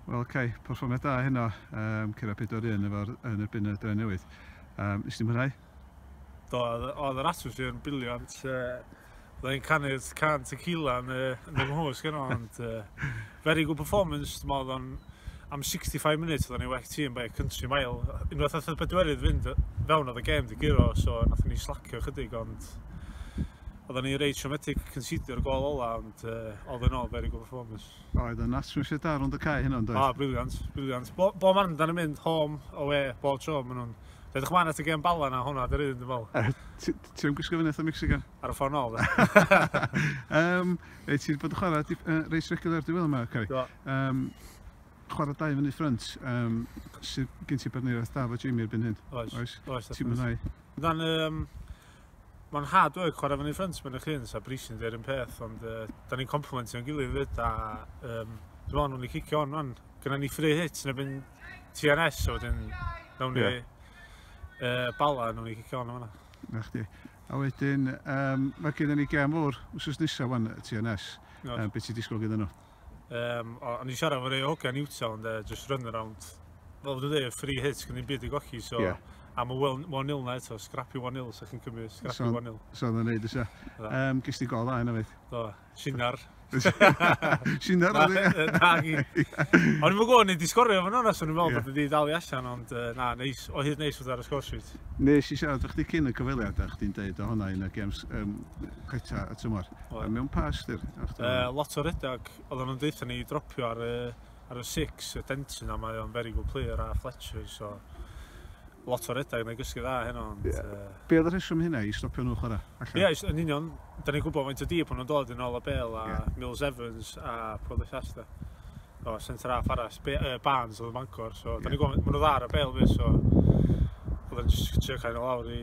Wel, oce, okay, perfformiad da heno, um, cyrra 4-1 efo'r yn erbyn y dre newydd. Um, Ysdi mwynhau? Do, oedd yr atmosffer yn biliant. Uh, Oedd e'n canu'r can tequila yn, uh, yn y mhwys gen ond uh, very good performance. Dwi'n meddwl o'n am 65 munud oedd o'n ei well tîm by country mile. Unwaith oedd y bedwerydd fynd fewn oedd y gêm di giro, so nath ni slacio chydig ond Oedden ni reit traumatic considio'r gol ola, ond uh, all in all, very good performance. Oedd yn atmosffer da rhwng y cae hynna, ond oedd? Ah, briliant, briliant. Bo, bo man dan yn mynd home, away, bob tro, maen nhw'n... Rydych man at y gem bala na hwnna, dyr un, dwi'n fel. Uh, Ti'n gwisgo fyny eitha Mexican? Ar y ffordd nôl, um, Ei, ti'n bod yn chwarae dip, uh, reis regular diwedd yma, Cari? Do. Um, chwarae dau fyny ffrynt, um, sy'n gen ti barneriaeth da fo Jamie erbyn hyn. Oes, oes. oes ti'n mwynhau? Dan, um, Mae'n hard work chwarae fyny ffrynt mewn eich hun, sa Brisi'n dweud yn peth, ond uh, da ni'n complimentio yn gilydd fyd, a um, dwi'n meddwl nhw'n ei cicio on, man. Gynna ni free hit, neu byn TNS, so wedyn, nawn ni yeah. uh, bala, nawn ni cicio on o'na. Na chdi. A wedyn, um, mae gen i ni gem fawr, wrth nesaf fan TNS, no. um, beth ti'n disgwyl gyda nhw? Um, o, o'n i'n siarad efo rei o hogia Newtown, de, just run around. Fel dwi'n dweud, free hit, gan ddim byd i gochi, so... Yeah. Am y 1-0 na eto, scrappy 1-0, so chi'n cymryd scrappy so, 1-0. So oedd yn neud eisiau. Um, Gys ti gol dda hynna fyd? Do, Sinar. Sinar oedd e? Na, gi. O'n i'n gwybod, ni'n disgorio fan hwnna, so ni'n meddwl bod wedi dal i allan, ond uh, na, neis, o hyd neis oedd ar y sgwrs rwyt. Nes i siarad o'ch di cyn y cyfeiliad, a chdi'n deud o hwnna yn y games um, ceta y tymor. O, mewn pa ystyr? Uh, lot o redag. Oedden nhw'n deutha ni dropio ar y, ar y six, y Denton, a mae o'n very good player a Fletcher, so... Lot o redag, neu gysgu dda heno, ond... Yeah. Uh... Be oedd y rheswm hynna i stopio nhw chwarae? Ie, yeah, yn union. Da ni'n gwybod faint o dîp o'n nhw'n dod yn ôl a Bale a yeah. Mills Evans a Pwyd Llasta. O, centre half arall, Be uh, Barnes oedd y Mancor, so... Yeah. Da ni'n gwybod, maen nhw dda ar y Bale fi, so... Oedden nhw'n just trio cael nhw lawr i...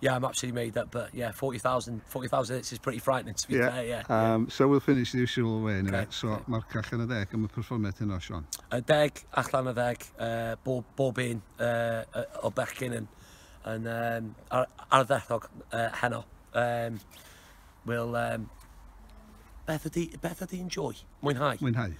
yeah, I'm absolutely made up. But yeah, 40,000 40,000 hits is pretty frightening to be yeah. fair, yeah, yeah. Um, so we'll finish the usual way anyway. Okay. So okay. mae'r cach yn y ddeg am y perfformiad hynna, Sean. Y deg, allan y ddeg, uh, bob, bob un uh, o bechgyn yn, yn um, ar, arddethog uh, heno. Um, we'll, um, beth ydy, beth ydy enjoy? Mwynhau. Mwynhau.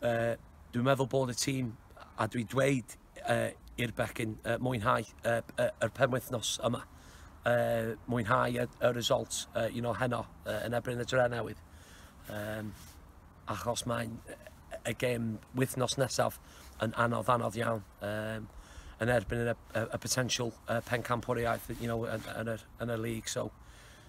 Uh, dwi'n meddwl bod y tîm, a dwi dweud uh, i'r bechgyn uh, mwynhau uh, uh, yr penwythnos yma. Uh, mwynhau y, y result uh, you know, heno uh, yn ebrin y dre newydd. Um, achos mae'n y gêm wythnos nesaf yn anodd anodd iawn. Um, yn erbyn y, y, y potential uh, pen campwriaeth you know, yn, yn, yr, yn y league. So,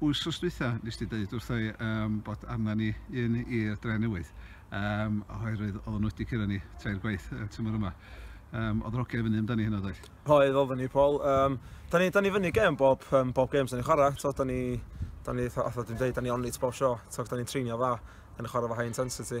Wsos dwytha nes di deud wrtho i yym bod arna ni un i Drenewydd yym oherwydd oedden nhw wedi curo ni tair gwaith y tymor yma. Yym oedd yr ogia i fyny amdani hynna ddoedd? Oedd oedden ni Paul yym da ni da ni fyny gêm bob yym bob gêm da ni'n chwara t'od da ni da ni fatha fatha dwi'n deud da ni on it bob sho t'od da ni'n treinio dda da ni'n chwara efo high intensity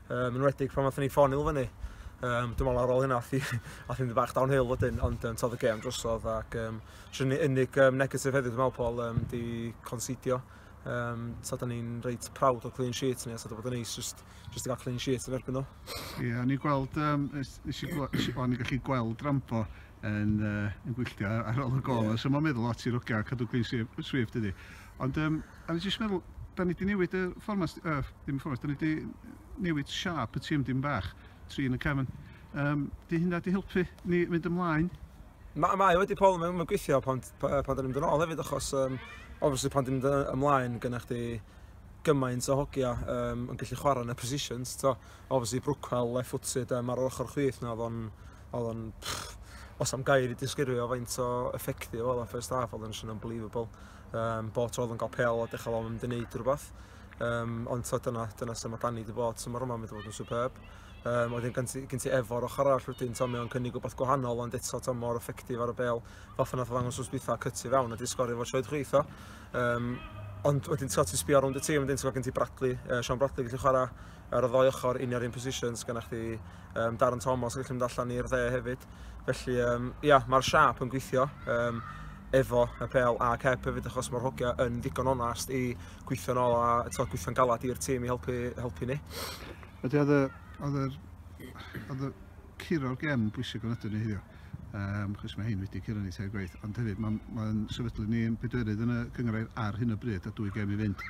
Um, yn wedig pan wnaethon ni ffoni nhw fyny. Um, dwi'n meddwl ar ôl hynna, ath i'n dweud bach downhill wedyn, ond um, todd y gem drosodd ac um, sy'n unig um, negatif heddiw, dwi'n meddwl, Paul, um, di considio. Um, so, da ni'n reit proud o clean sheet ni, a so, da bod yn neis just, just i gael clean sheet yn erbyn nhw. Ie, yeah, o'n i'n gweld, um, nes i, o'n i'n gallu gweld rampo yn, uh, yn gwylltio ar ôl y gol. Yeah. So mae'n meddwl lot i'r oga a cadw clean swift ydy. Ond, um, a nes i'n meddwl, da ni wedi newid y fformas, uh, ddim fformas, da ni wedi newid siap y tîm dim bach, tri yn y cefn. Um, di hynna di helpu ni fynd ymlaen? Mae ma wedi pol, mae'n ma gweithio pan, pan, pan da ni'n mynd yn ôl hefyd, achos, um, obviously, pan da ni'n mynd ymlaen, gyda chdi gymaint o hogia um, yn gallu chwarae yn y positions. To, obviously, Brookwell, left-footed, um, ar ochr chwith, na, oedd o'n Oedd o'n... Os am gair i disgrifio faint o effective oedd o'n first half, oedd o'n just yn unbelievable. Um, bo tro oedd o'n cael pel a dechrau o'n mynd i wneud rhywbeth. Um, ond so, dyna, dyna sef mae Danny wedi bod tymor yma, mae wedi bod yn superb. Um, oedd yn gen ti efo'r ochr arall wedyn, to, mae o'n cynnig rhywbeth gwahanol, ond eto to, mor effectif ar y bel. Fel ffynna oedd angos wrth bwytha cytu fewn a di sgorio fo troed chwith o. Um, ond wedyn ti'n sbio rownd y tîm, wedyn ti'n gweld gen ti Bradley, uh, Sean Bradley gallu chwarae, ar y ddoi ochr un ar un positions gyda chdi um, Darren Thomas yn gallu mynd allan i'r dde hefyd. Felly, um, ia, mae'r siap yn gweithio. Um, efo y pel a cep hefyd achos mae'r hogia yn ddigon onast i gweithio'n ôl a to, gweithio'n galad i'r tîm i helpu, helpu ni. Ydy, oedd y curo o'r gem bwysig o'n ydyn ni hyddio. Um, chos mae hyn wedi curo ni teir gwaith, ond hefyd mae'n ma sefydlu ni yn bedwerydd yn y cyngrair ar hyn o bryd a dwy gem i fynd.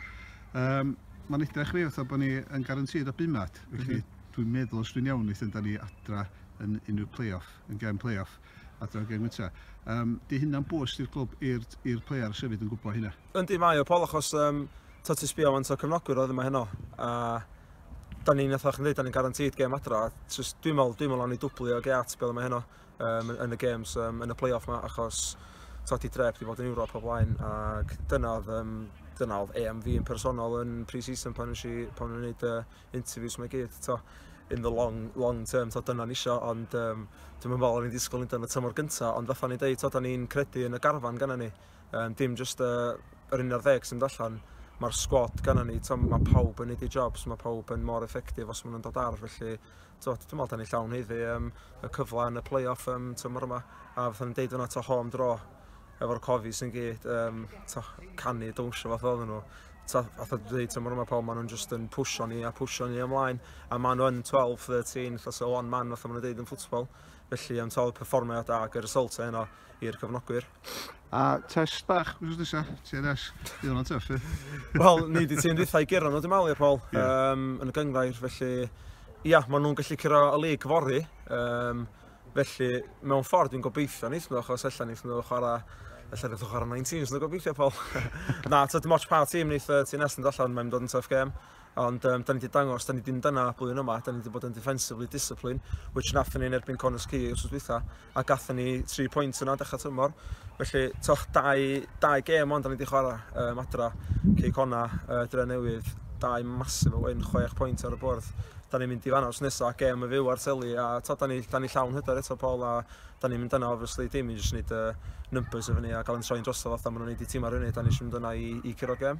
Um, mae'n edrych fi fatha bod ni yn garantid o bumat, felly mm -hmm. dwi'n meddwl os dwi'n iawn eithin da ni adra yn unrhyw play-off, yn gem play-off, adra yn gem gynta. Um, di hynna'n bwys i'r glwb, i'r player sefyd yn gwybod hynna? Yndi mae o, Paul, achos um, ta ti sbio fan o cyfnogwyr oedd yma heno. A da ni'n eithaf chi'n dweud, da ni'n garantid gem adra. Dwi'n meddwl, dwi'n meddwl o'n i dwblu o geat beth yma heno. um, yn y games, um, yn y play-off ma, achos todi drep wedi bod yn Ewrop o blaen, ac dyna oedd, um, dyna oedd EM fi yn personol yn pre-season pan nes i, pan o'n gwneud uh, interviews mae gyd, to, in the long, long term, to, dyna ni isio, ond um, dwi'n meddwl o'n i'n disgwyl yn y tymor gyntaf, ond fatha ni'n deud, to, da ni'n credu yn y garfan gan ni, um, dim just uh, yr un ar ddeg sy'n allan, mae'r sgwad gan ni, to, mae pawb yn neud ei jobs, mae pawb yn mor effectif os maen nhw'n dod ar, felly Twod, dwi'n meddwl da ni llawn heiddi um, y cyfle yn y play-off um, tymor yma, a fatha ni'n deud yna to home draw efo'r cofis yn gyd, um, to, canu dwnsio fath oedden nhw. To, fatha dwi'n dweud tymor yma pawb, maen nhw'n just yn pwysio ni a pwysio ni ymlaen, a maen nhw'n 12, 13, fatha so one man fatha maen nhw'n deud yn ffwtsbol. Felly, um, to, performiad da, gyda'r result e heno. i'r cyfnogwyr. A test bach, wrth nesaf, TNS, i hwnna'n tyff i. Wel, ni wedi ti'n rithau gyrra nhw, dim alir, Paul, yeah. um, yn y gyngfair, felly, ia, maen nhw'n gallu cyrra y lig fori, um, felly, mewn ffordd, dwi'n gobeithio nes nhw, achos allan nes nhw chwarae, allan nes nhw chwarae 19, nes nhw gobeithio, Paul. Na, tyd, moch pa tîm nes uh, ti'n nes yn allan, mae'n dod yn tough game. Ond um, da ni wedi dangos, da ni ddim dyna blwyddyn yma, da ni wedi bod yn defensively discipline, which nath ni yn erbyn Connors Key os oes dwytha, a gathen ni 3 pwynt yna dechrau tymor. Felly, toch, dau, dau gêm ond da ni wedi chwarae um, adra, Cey Cona, uh, Dre Newydd, dau masif o wyn, 6 pwynt ar y bwrdd. Da ni'n mynd i fanna os nesaf, gêm y fyw ar teli, a to, da ni, da ni llawn hyder eto Paul, a da ni'n mynd yna, obviously, dim i jyst wneud uh, numbers efo ni a gael yn troi'n drosodd fatha maen nhw'n neud i tîm ar hynny, da ni eisiau mynd yna i, i curo gêm.